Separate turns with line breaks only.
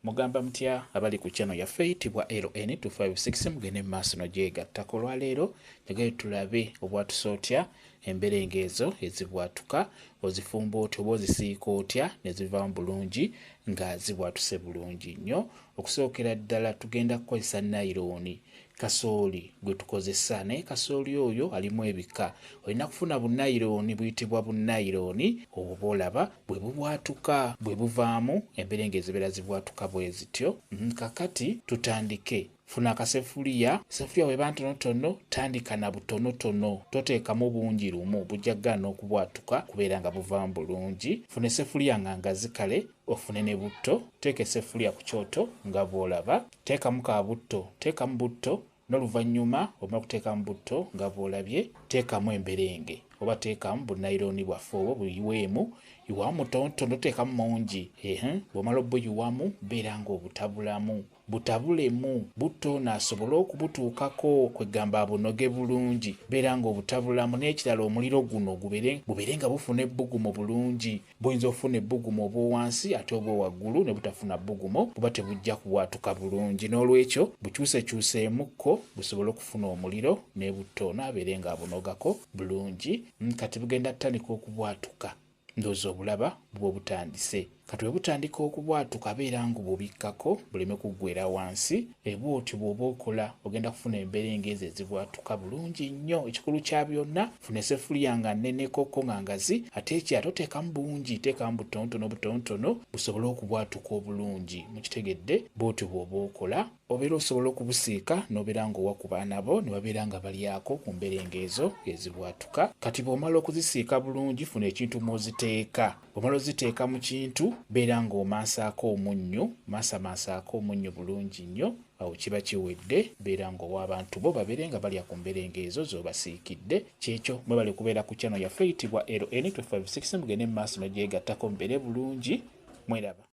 Mugamba mutya abali ku channel yaffe eyitibwa LN256 mugende mumaaso nogyegattako. Olwaleero njagayo tulabe obwatusa otya emberenge ezo ezibwatuka, ozifumba otya oba ozisiika otya nezivaamu bulungi nga zibwatuse bulungi nnyo. Okusookera ddala tugenda kukozesa nayirooni kasooli gwe tukozesa naye kasooli oyo alimu ebika olina kufuna bunayirooni buyitibwa bunayirooni obwo bwolaba bwe bubwatuka bwe buvaamu emberenge ezibeera zibwatuka bwe zityo mm, kakati tutandike funa akasefuliya sefuliya weba ntonotono tandika na butonotono toteekamu bungi lumu bujja kugaana okubwatuka kubeera nga buvaamu bulungi funa esefuliya nga ngazikale ofune ne butto teeka esefuliya ku kyoto nga bwolaba Teekamu ka butto, teekamu butto noluvanyuma omala kuteekamu butto nga bwolabye teekamu emberenge oba teekamu bunayironi bwaffe obwo buyiweemu iwamu mutontono teekamu mungi eeh bwomala obuyiwamu beera nga obutabulamu butabulemu butto ono asobole okubutuukako kwegamba abunoge bulungi beera nga obutabulamu n'ekirala omuliro guno gubere gubere nga bufuna ebbugumu bulungi Buyinza okufuna ebbugumu obw'owansi ate obw'owaggulu ne butafuna bbugumo buba tebujja kubwatuka bulungi. N'olwekyo bukyusekyuseemukko busobole okufuna omuliro n'ebutta ono abeere ng'abunogako bulungi. Mm, kati bugenda tandika okubwatuka. Ndowooza obulaba buba butandise. Kati bwe butandika okubwatuka abeera ng'obubikkako buleme kuggwera wansi. Bwe bw'otyo bw'oba okola, ogenda kufuna emberenge ezo ezibwatuka bulungi nnyo. Ekikulu kya byonna, funa essefuliya nga nneneko ko nga ngazi, ate ekirala toteekamu bungi, teekamu butonotono butonotono busobole okubwatuka obulungi. Mukitegedde? Bw'otyo bw'oba okola. Obeera osobola okubusiika n'obeera nga owa ku baana bo ne babeera nga balyako ku mberenge ezo ezibwatuka. Kati bw'omala okuzisiika bulungi, funa ekintu mw'oziteeka. Bw'omala oziteeka mu kintu beera ng'omansaako omunnyo, masamansaako omunnyo bulungi nnyo, awo kiba kiwedde beera ng'owa abantu bo babeere nga balya ku mberenge ezo z'obasiikidde. Ky'ekyo, mwebale kubeera ku channel yaffe eyitibwa LN256 mugende mu maaso ne gyegattako mubeere bulungi. Mweraba.